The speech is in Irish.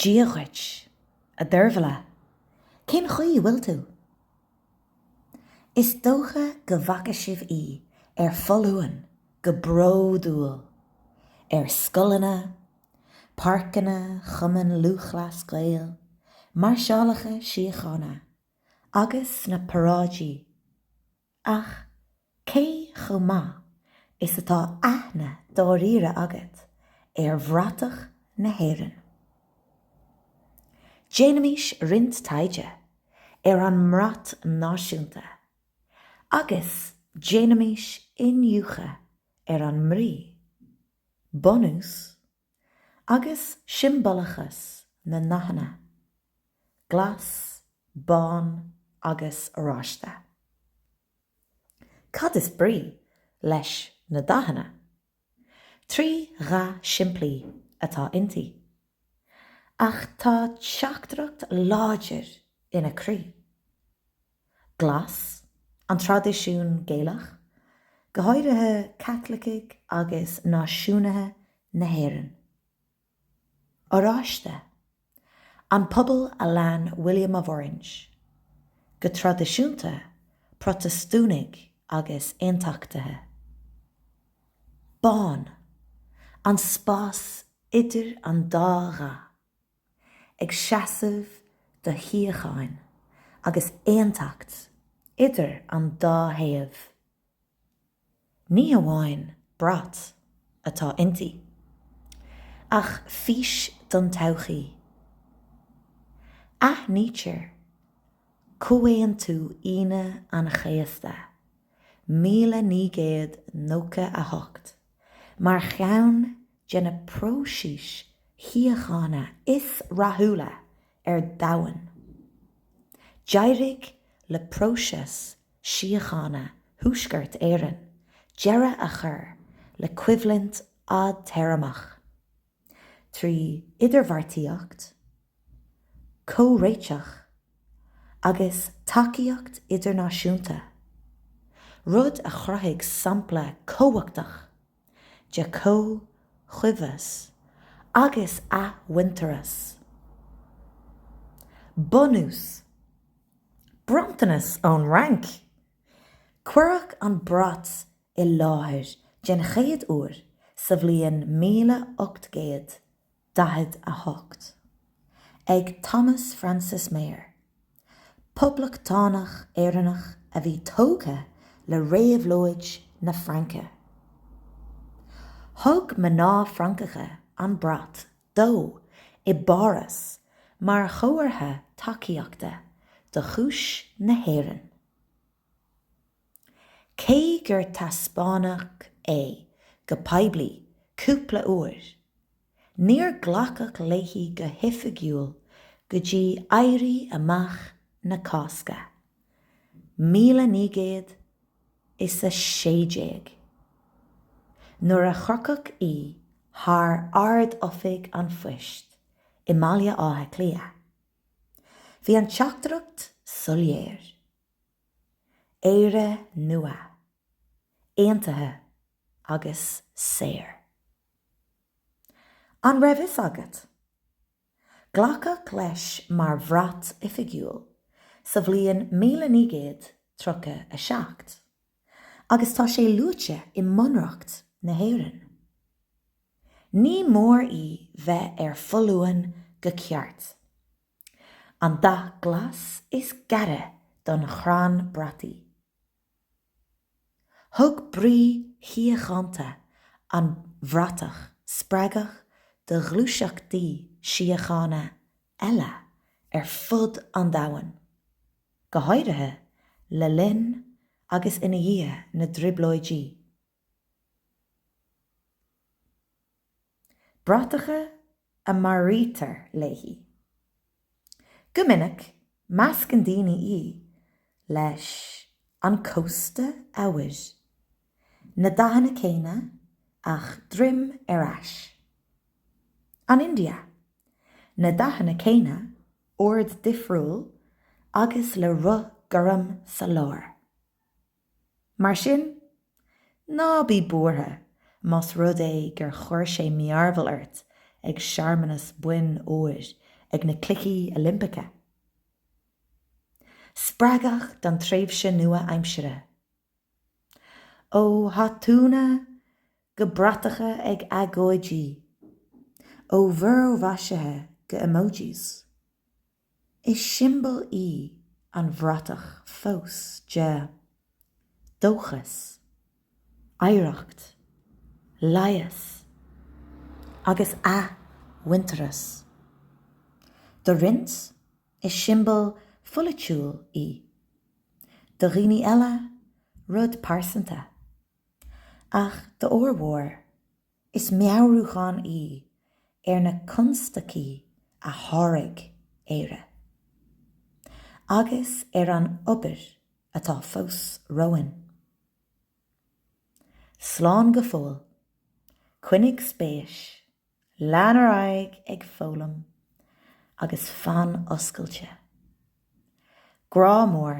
Dia dhuit, a Deirbhile. Cén chaoi a bhfuil tú? Is dócha go bhfaca sibh í ar foluain go bródúil ar scoileanna, páirceanna Chumann Lúthchleas Gael, máirseálacha síochána agus sna paráidí. Ach cé chomh maith is atá aithne dáiríre agat ar bhratach na hÉireann? Déanaimis roinnt taighde ar an mbrat náisiúnta agus déanaimis iniúchadh ar an mbrí, bunús agus siombalachas na ndathanna, glas, bán agus oráiste. Cad is brí leis na dathanna? Trí dhath simplí atá inti. Ach tá teachtaireacht láidir ina croí. Glas, an traidisiún Gaelach, go háirithe Caitlicigh agus Náisiúnaithe na hÉireann. Oráiste, an pobal a lean William of Orange, go traidisiúnta Protastúnaigh agus Aontachtaithe. Bán, an spás idir an dá dhath. ag seasamh do shíocháin agus aontacht idir an dá thaobh. Ní hamháin brat atá inti, ach fís don todhchaí. Aithnítear Comhaontú Aoine an Chéasta, míle naoi gcéad nócha a hocht, Mar cheann de na próisis shíochána is rathúla ar domhan, d'éirigh le próiseas síochána Thuaisceart Éireann deireadh a chur le coimhlint fhadtéarmach. trí idirbheartaíocht, comhréiteach agus tacaíocht idirnáisiúnta, rud a chruthaigh sampla cumhachtach de chomhchuibheas agus athmhuintearas. Bunús. Bronntanas ón Fhrainc! Cuireadh an brat i láthair den chéad uair sa bhliain míle ocht gcéad daichead a hocht, ag Thomas Francis Meagher, poblachtánach Éireannach a bhí tógtha le réabhlóid na Fraince. Thug mná Francacha an brat dó i bPáras mar chomhartha tacaíochta do chúis na hÉireann. Cé gur taispeánadh é go poiblí cúpla uair, níor glacadh léi go hoifigiúil go dtí Éirí Amach na Cásca, míle naoi gcéad is a sé déag, nuair a chrochadh í thar Ard-Oifig an Phoist i mBaile Átha Cliath. Bhí an teachtaireacht soiléir. Éire nua, aontaithe agus saor. An raibh fhios agat? Glacadh leis mar bhrat oifigiúil sa bhliain míle naoi gcéad tríocha a seacht, agus tá sé luaite i mBunreacht na hÉireann. Ní mór í bheith ar foluain go ceart, An dath glas is gaire don chrann brataí. Thug brí shíochánta an bhratach spreagadh do ghluaiseachtaí síochána eile ar fud an domhain, go háirithe le linn agus ina dhiaidh na dTrioblóidí. bratacha a mearaítear léi. Go minic, meascann daoine í leis An Cósta Eabhair, na dathanna céanna ach droim ar ais. An India, na dathanna céanna, ord difriúil agus le roth gorm sa lár. Mar sin, ná bí buartha más rud é gur chuir sé mearbhall ort ag searmanas boinn óir ag na Cluichí Oilimpeacha. Spreagadh don tréimhse nua aimsire? Ó thatúnna go bratacha ag agóidí, ó mhúrmhaisithe go emojis. Is siombail í an bhratach fós de dóchas, oidhreacht, leigheas agus athmhuintearas. Do roinnt, is siombail pholaitiúil í. Do dhaoine eile, rud pearsanta. Ach d'fhormhór, Is meabhrúchán í ar na constaicí a sháraigh Éire agus ar an obair atá fós romhainn. Slán go fóill, coinnigh spéis, lean ar aghaidh ag foghlaim agus fan oscailte. Grá mór.